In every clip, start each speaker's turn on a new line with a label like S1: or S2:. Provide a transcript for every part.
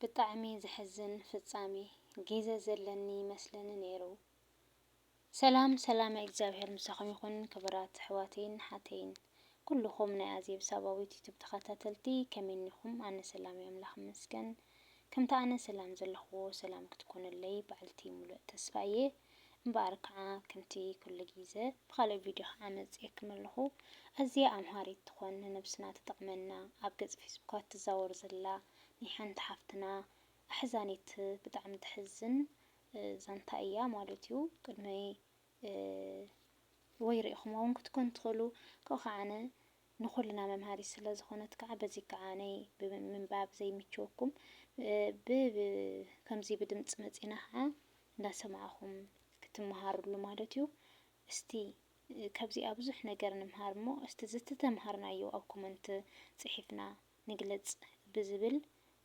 S1: ብጣዕሚ ዘሕዝን ፍጻሜ ጊዘ ዘለኒ ይመስለኒ ነይሩ። ሰላም ሰላመ እግዚኣብሔር ምሳኹም ይኹን ክብራት ኣሕዋተይን ኣሓተይን ኩሉኹም ናይ ኣዜብ ሳባዊት ዩቱብ ተኸታተልቲ ከመይ እኒኹም ኣነ ሰላም እየ ኣምላኽ ይመስገን ከምቲ ኣነ ሰላም ዘለኽዎ ሰላም ክትኮኑለይ ባዕልቲ ሙሉእ ተስፋ እየ እምበኣር ከዓ ከምቲ ኩሉ ጊዘ ብኻልእ ቪድዮ ከዓ መፅኤክም ኣለኹ ኣዚያ ኣምሃሪት ትኾን ንነብስና ትጠቕመና ኣብ ገፅ ፌስቡካ ትዛወር ዘላ ናይ ሓንቲ ሓፍትና ኣሕዛኒት ብጣዕሚ ተሕዝን ዛንታ እያ ማለት እዩ ቅድሚ ወይ ሪኢኹማ ውን ክትኮን ትኽእሉ ካብኡ ከዓነ ንኹልና መምሃሪት ስለ ዝኾነት ከዓ በዚ ከዓ ነይ ብምንባብ ዘይምችወኩም ብ ከምዚ ብድምፂ መፂና ከዓ እንዳሰማዕኹም ክትመሃርሉ ማለት እዩ እስቲ ካብዚኣ ብዙሕ ነገር ንምሃር እሞ እስቲ ዝተተምሃርናዮ ኣብ ኮመንት ፅሒፍና ንግለጽ ብዝብል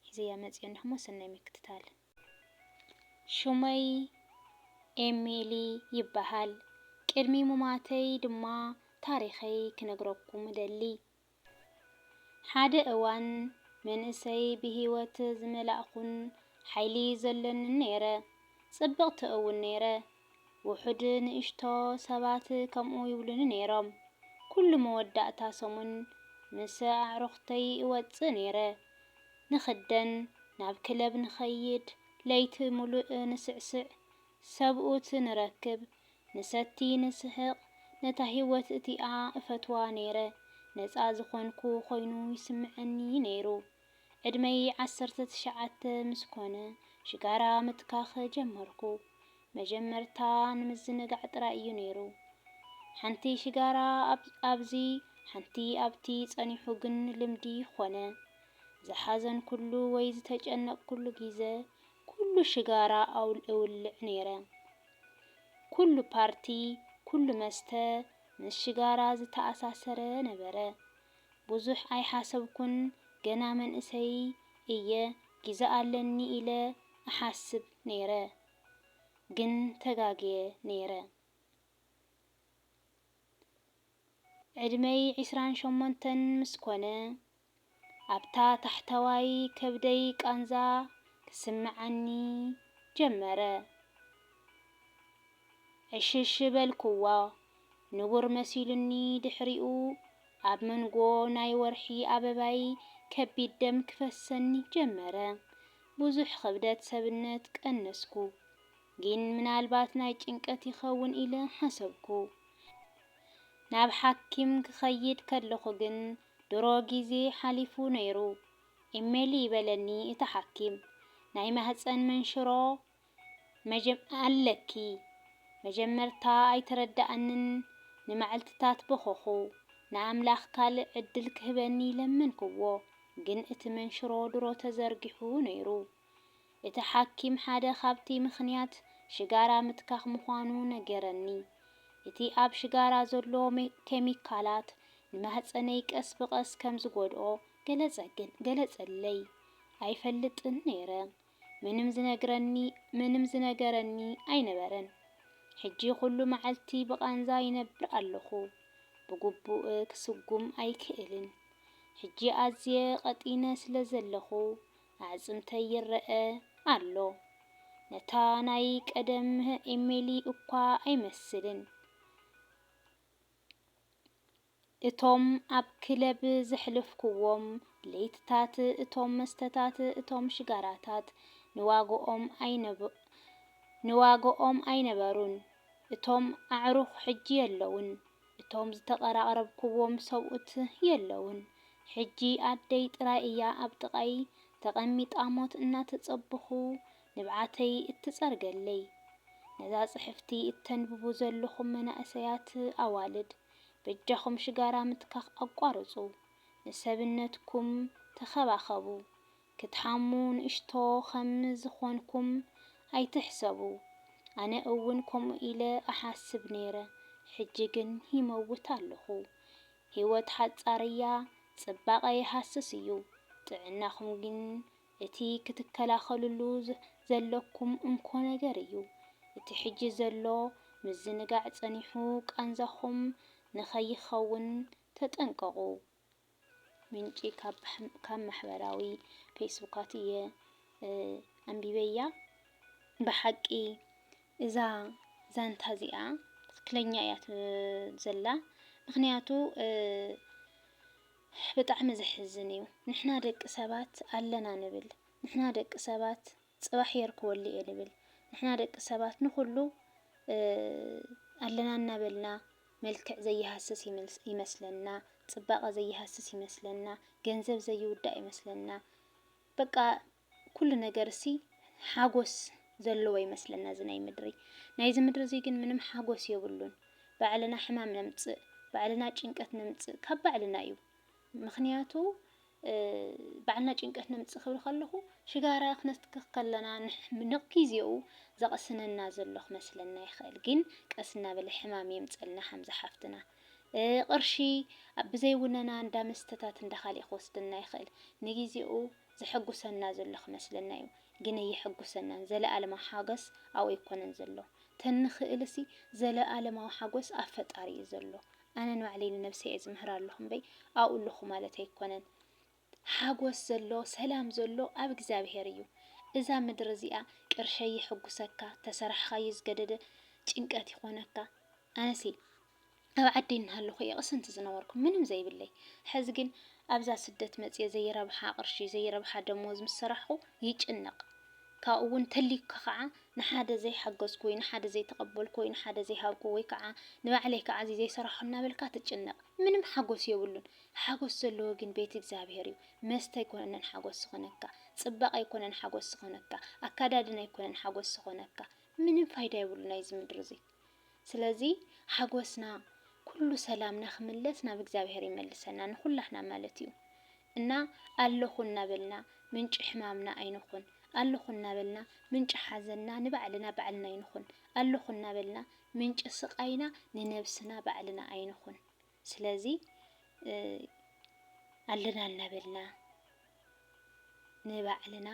S1: ሒዘያ መጽየ እንሆሞ ሰናይ ምክትታል። ሹመይ ኤሚሊ ይበሃል ቅድሚ ሙማተይ ድማ ታሪኸይ ክነግረኩም እደሊ። ሓደ እዋን መንእሰይ ብሂወት ዝመላእኩን ሓይሊ ዘሎንን ነይረ ጽብቕቲ እውን ነይረ ውሑድ ንእሽቶ ሰባት ከምኡ ይብሉኒ ነይሮም። ኵሉ መወዳእታ ሰሙን ምስ ኣዕሩኽተይ እወጽእ ነይረ። ንኽደን፣ ናብ ክለብ ንኸይድ፣ ለይቲ ምሉእ ንስዕስዕ፣ ሰብኡት ንረክብ፣ ንሰቲ፣ ንስሕቕ፣ ነታ ህይወት እቲኣ እፈትዋ ነይረ። ነጻ ዝዀንኩ ዀይኑ ይስምዓኒ ነይሩ። ዕድመይ ዓሰርተ ትሽዓተ ምስ ኮነ ሽጋራ ምትካኽ ጀመርኩ። መጀመርታ ንምዝንጋዕ ጥራይ እዩ ነይሩ። ሓንቲ ሽጋራ ኣብዚ ሓንቲ ኣብቲ ጸኒሑ ግን ልምዲ ኮነ። ዝሓዘንኩሉ ወይ ዝተጨነቕኩሉ ግዜ ኩሉ ሽጋራ እውልዕ ነይረ። ኩሉ ፓርቲ፣ ኩሉ መስተ ምስ ሽጋራ ዝተኣሳሰረ ነበረ። ብዙሕ ኣይሓሰብኩን ገና መንእሰይ እየ ጊዘ ኣለኒ ኢለ እሓስብ ነይረ ግን ተጋግየ ነይረ ዕድመይ ዕስራን ሸሞንተን ምስ ኮነ ኣብታ ታሕተዋይ ከብደይ ቃንዛ ክስመዓኒ ጀመረ። ዕሽሽ በልኩዋ ንቡር መሲሉኒ ድሕሪኡ ኣብ መንጎ ናይ ወርሒ ኣበባይ ከቢድ ደም ክፈሰኒ ጀመረ ብዙሕ ኽብደት ሰብነት ቀነስኩ ጊን ምናልባት ናይ ጭንቀት ይኸውን ኢለ ሓሰብኩ ናብ ሓኪም ክኸይድ ከለኹ ግን ድሮ ጊዜ ሓሊፉ ነይሩ ኢሜሊ በለኒ እቲ ሓኪም ናይ ማህጸን መንሽሮ ኣለኪ። መጀመርታ ኣይተረደኣንን ንመዕልትታት በኸኹ። ንኣምላኽ ካልእ ዕድል ክህበኒ ለመንክዎ፣ ግን እቲ መንሽሮ ድሮ ተዘርጊሑ ነይሩ። እቲ ሓኪም ሓደ ኻብቲ ምኽንያት ሽጋራ ምትካኽ ምዃኑ ነገረኒ። እቲ ኣብ ሽጋራ ዘሎ ኬሚካላት ንማህጸነይ ቀስ ብቐስ ከም ዝጐድኦ ገለጸለይ። ኣይፈልጥን ነይረ። ምንም ዝነግረኒ ምንም ዝነገረኒ ኣይነበረን ሕጂ ኩሉ መዓልቲ ብቃንዛ ይነብር ኣለኩ ብጉቡእ ክስጉም ኣይክእልን ሕጂ ኣዝየ ቀጢነ ስለ ዘለኩ ኣዕጽምተይ ይረኣ ኣሎ ነታ ናይ ቀደም ኤሚሊ እኳ ኣይመስልን እቶም ኣብ ክለብ ዘሕለፍኩዎም ለይትታት፣ እቶም መስተታት፣ እቶም ሽጋራታት ንዋጋኦም ኣይነበሩን። እቶም ኣዕሩኽ ሕጂ የለዉን። እቶም ዝተቐራረብኩዎም ሰብኡት የለዉን። ሕጂ ኣደይ ጥራይ እያ ኣብ ጥቓይ ተቐሚጣ ሞት እናተጸበኹ ንብዓተይ እትጸርገለይ። ነዛ ጽሕፍቲ እተንብቡ ዘለኹም መናእሰያት ኣዋልድ፣ በጃኹም ሽጋራ ምትካኽ ኣቋርጹ ንሰብነትኩም ተኸባኸቡ ክትሓሙ ንእሽቶ ከም ዝኾንኩም ኣይትሕሰቡ ኣነ እውን ከምኡ ኢለ እሓስብ ነይረ ሕጂ ግን ይመውት ኣለኹ ሂወት ሓጻር እያ ጽባቐ ይሃስስ እዩ ጥዕናኹም ግን እቲ ክትከላኸልሉ ዘለኩም እንኮ ነገር እዩ። እቲ ሕጂ ዘሎ ምዝንጋዕ ጸኒሑ ቃንዛኹም ንኸይኸውን ተጠንቀቑ። ምንጪ ካብ ማሕበራዊ ፌስቡካት እየ ኣንቢበያ። ብሓቂ እዛ ዛንታ እዚኣ ትክክለኛ እያ ዘላ ምክንያቱ ኣሕ ብጣዕሚ ዘሕዝን እዩ ንሕና ደቂ ሰባት ኣለና ንብል ንሕና ደቂ ሰባት ጽባሕ የር ክወሊ እየ ንብል ንሕና ደቂ ሰባት ንኹሉ ኣለና እናበልና መልክዕ ዘይሃስስ ይመስለና ጽባቀ ዘይሃስስ ይመስለና ገንዘብ ዘይውዳእ ይመስለና በቃ ኩሉ ነገርሲ ሓጎስ ዘለዎ ይመስለና እዚ ናይ ምድሪ ናይዚ ምድሪ እዚ ግን ምንም ሓጎስ የብሉን ባዕልና ሕማም ነምጽእ ባዕልና ጭንቀት ነምጽእ ካብ ባዕልና እዩ ምክንያቱ ባዕልና ጭንቀት ነምጽእ ክብል ከለኹ ሽጋራ ክነትክኽ ከለና ንግዜኡ ዘቕስነና ዘሎ ክመስለና ይኽእል፣ ግን ቀስ እናበለ ሕማም የምጸልና ሓምዛ ሓፍትና። ቅርሺ ብዘይውነና እንዳ መስተታት እንዳ ካልእ ክወስደና ይኽእል፣ ንግዜኡ ዘሐጉሰና ዘሎ ክመስለና እዩ ግን ኣየሐጉሰናን ዘለኣለማዊ ሓገስ ኣብኡ ኣይኮነን ዘሎ ተንኽእልሲ ዘለኣለማዊ ሓጎስ ኣብ ፈጣሪ እዩ ዘሎ ኣነ ንባዕለይ ንነብሰይ እየ ዝምህራ ኣለኹ እምበይ ኣብኡ ኣለኹ ማለት ኣይኮነን ሓጎስ ዘሎ ሰላም ዘሎ ኣብ እግዚኣብሄር እዩ እዛ ምድሪ እዚኣ ቅርሸይ የሕጉሰካ ተሰራሕኻዩ ዝገደደ ጭንቀት ይኾነካ ኣነሲ ኣብ ዓደይ እናሃለኹ እየ ቅስንቲ ዝነበርኩ ምንም ዘይብለይ ሐዚ ግን ኣብዛ ስደት መፅየ ዘይረብሓ ቅርሺ ዘይረብሓ ደሞዝ ምስ ሰራሕኹ ይጭነቅ ካብኡ እውን ተሊዩካ ከዓ ንሓደ ዘይሓገዝኩ ወይ ንሓደ ዘይተቀበልኩ ወይ ንሓደ ዘይሃብኩ ወይ ከዓ ንባዕለይ ከዓ እዚ ዘይሰራሕኹ እናበልካ ትጭነቅ ምንም ሓጎስ የብሉን ሓጎስ ዘለዎ ግን ቤት እግዚኣብሔር እዩ መስተ ኣይኮነን ሓጎስ ዝኾነካ ፅባቀ ኣይኮነን ሓጎስ ዝኾነካ ኣካዳድና ኣይኮነን ሓጎስ ዝኾነካ ምንም ፋይዳ የብሉ ናይዚ ምድሪ እዙይ ስለዚ ሓጎስና ኩሉ ሰላምና ክምለስ ናብ እግዚኣብሔር ይመልሰና ንኩላህና ማለት እዩ እና ኣለኩ እናበልና ምንጪ ሕማምና ኣይንኩን ኣለኩ እናበልና ምንጪ ሓዘንና ንባዕልና ባዕልና ኣይንኩን ኣለኩ እናበልና ምንጪ ስቃይና ንነብስና ባዕልና ኣይንኩን ስለዚ ኣለና እናበልና ንባዕልና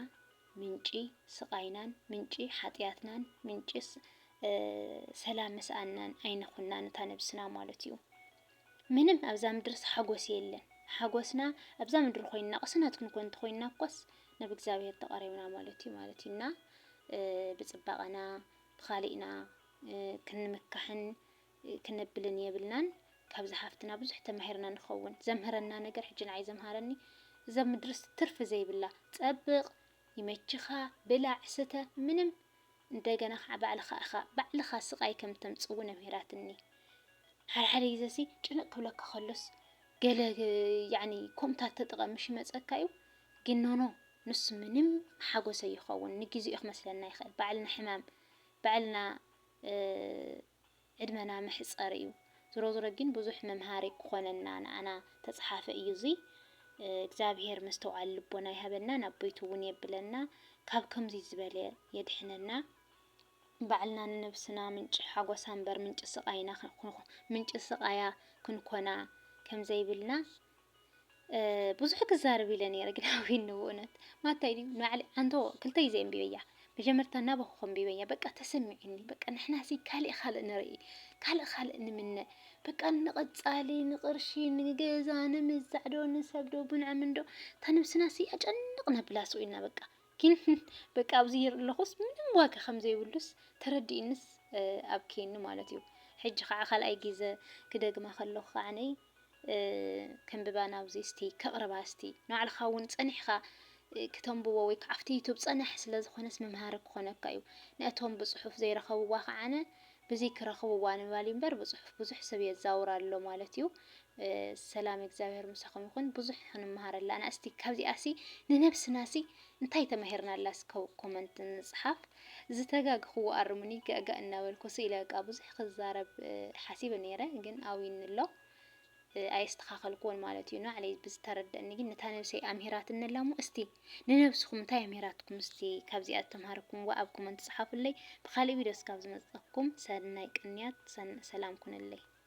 S1: ምንጪ ስቓይናን ምንጪ ሓጢኣትናን ምንጪ ሰላም ምስኣናን ኣይንኹናን እታ ነብስና ማለት እዩ። ምንም ኣብዛ ምድርስ ሓጎስ የለን። ሓጎስና ኣብዛ ምድሪ ኮይንና ቅስነት ክንኮን እንተኮይንና እኮስ ናብ እግዚኣብሄር ተቐሪብና ማለት እዩ ማለት እዩ እና ብፅባቐና ብካሊእና ክንምካሕን ክነብልን የብልናን ካብዛ ሓፍትና ብዙሕ ተማሂርና ንኸውን ዘምህረና ነገር ሕጂ ንዓይ ዘምሃረኒ እዛ ኣብ ምድርስ ትርፊ ዘይብላ ጸብቅ ይመችኻ ብላዕ ስተ ምንም እንደገና ካዓ ባዕልኻ ኢኻ ባዕልኻ ስቃይ ከም ተምጽእ ውን ኣምሂራትኒ ሓደ ሓደ ግዘሲ ጭንቅ ክብለካ ከሎስ ገለ ያኒ ኮምታት ተጠቀም ምሽ ይመጸካ እዩ ግን ኖኖ ንሱ ምንም ሓጎሰ ይኸውን ንግዜኡ ክመስለና ይኽእል ባዕልና ሕማም ባዕልና ዕድመና መሕጸሪ እዩ ዝሮ ዝሮ ጊን ብዙሕ መምሃሪ ክኾነና ንኣና ተጽሓፈ እዩ እዚ እግዚኣብሔር መስተውዓሊ ልቦና ይሃበና ናብ ቤቱ እውን የብለና ካብ ከምዙይ ዝበለ የድሕነና ባዕልና ንነብስና ምንጪ ሓጎሳ እምበር ምንጪ ስቃይና ምንጪ ስቃያ ክንኮና ከምዘይብልና ብዙሕ ክዛረብ ኢለ ነይረ ግን ኣዊኒ ብእውነት ማታይ ድዩ ንባዕሊ ኣንቶ ክልተ ግዜ ኣንቢበያ መጀመርታ እናበኹኹ ኣንቢበያ በቃ ተሰሚዕኒ በቃ ንሕና ሲ ካልእ ካልእ ንርኢ ካልእ ካልእ ንምነ በቃ ንቐጻሊ ንቕርሺ ንገዛ ንምዛዕዶ ንሰብዶ ብንዕምንዶ እታ ነብስና ሲ ኣጨንቕ ነብላ ስኢና በቃ ግን በቃ ኣብዚ ይርኢ ኣለኹስ ምንም ዋጋ ከም ዘይብሉስ ተረዲእንስ ኣብኪኒ ማለት እዩ ሕጂ ከዓ ካልኣይ ግዜ ክደግማ ከለኹ ከዓ ነይ ከንብባ ናብዚ እስቲ ከቕርባ እስቲ ንባዕልኻ ውን ጸኒሕኻ ክተንብቦ ወይ ክዓ ኣብቲ ዩቱብ ጸናሒ ስለ ዝኾነስ መምሃሪ ክኾነካ እዩ ነቶም ብጽሑፍ ዘይረኸብዋ ክዓነ ብዚ ክረኽብዋ ንባል እምበር ብጽሑፍ ብዙሕ ሰብ የዛውር ኣሎ ማለት እዩ ሰላም እግዚኣብሔር ምሳኹም ይኹን ብዙሕ ክንመሃረላ እና እስቲ ካብዚኣሲ ንነብስናሲ እንታይ ተማሂርናላ እስከ ኮመንት ንጽሓፍ። ዝተጋገኹዎ ኣርሙኒ ጋእጋእ እናበልኩ ስኢለ በቃ ብዙሕ ክዛረብ ሓሲበ ነይረ ግን ኣውዩኒ ኣሎ ኣየስተኻኸልኩዎን ማለት እዩ ናዕለይ ብዝተረደእኒ ግን ነታ ነብሰይ ኣምሂራትኒ ኣላ እሞ እስቲ ንነብስኹም እንታይ ኣምሂራትኩም እስቲ ካብዚኣ ዝተምሃርኩምዋ ኣብ ኮመንት ጽሓፉለይ ብኻልእ ቪድዮ እስካብ ዝመጽኣኩም ሰናይ ቅንያት ሰላም ኩንለይ